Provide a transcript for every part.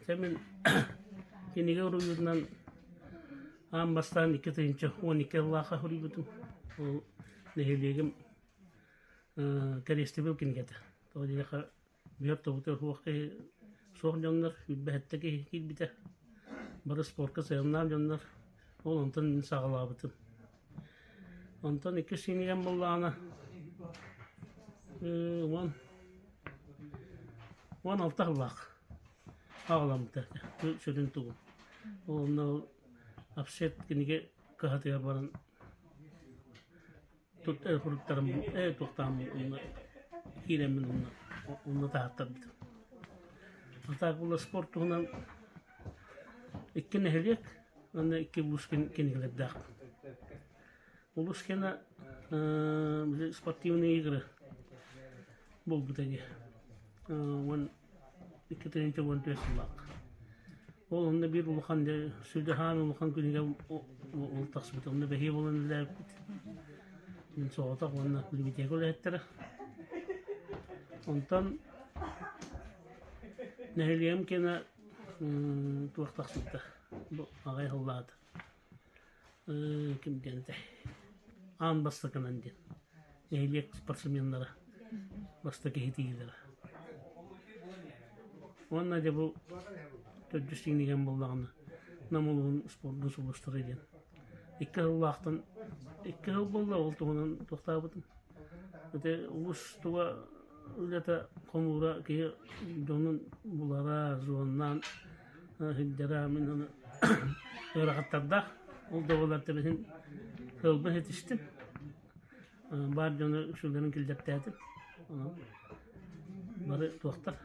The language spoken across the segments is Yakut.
Дьэ мин кинигэ уруйуутунан аан бастаан икки тыһыынча уон икки сыллаахха суруйбутум. Ол нэһилиэгим кэриэстэбил кинигэтэ. Тоҕо диэтэххэ бүһэр тобута суох киһи суох дьоннор, сүүрбэһэттэ киһи киирбитэ. Бары спорка сыһыаннаах дьоннор. Ол онтон мин саҕалаабытым. Онтон икки сиҥийэн буоллаҕына э, уон уон алта сыллаах аҕаламмыта сүрүн тугун. Уонна апсет кинигэ кыһатыгар баран тут фруктарым э туохтаам уонна киирэммин уонна уонна таһаттарбытым. А так было спорт туһунан икки нэһилиэк Уонна икки Булушкин кинигэлэрдээх. Булушкина э, били спортивные игры буолбута дии. Э, уон икки тыһыынча уон түөрт сыллаах. Ол онно биир улахан сүлдэһаан улахан күнүгэ ол тахсыбыт. Онно бэһиэ болон илээбит. Мин соҕотох уонна лимитиэгэ үлэһиттэрэ. Онтон нэһилиэм кена туох тахсыбыта бу аҕай аһыллаҕыта ким диэн этэй аан бастакынан диэн нэһилиэк спортсменнара бастакы иһитиилэрэ уонна дьэ бу төрдүс иҥниген буоллаҕына нам улууһун спордус улуустара диэн Икки сыллаахтан икки сыл буолла ол туһунан туохтаабытым. Ити уустуга ырыата хомуура киһи дьонун булара, звоннаан иһиллэрэ мин аны ыарахаттардаах. Ол да буоллар тэбиһин кыылбын итистим. баар дьоно үксүлэрин киллэртээтим. Онон бары туохтар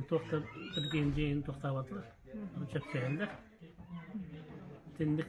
туохтар тиргиин дьиэин туохтаабатылар чэпчэһэллэр. Итинник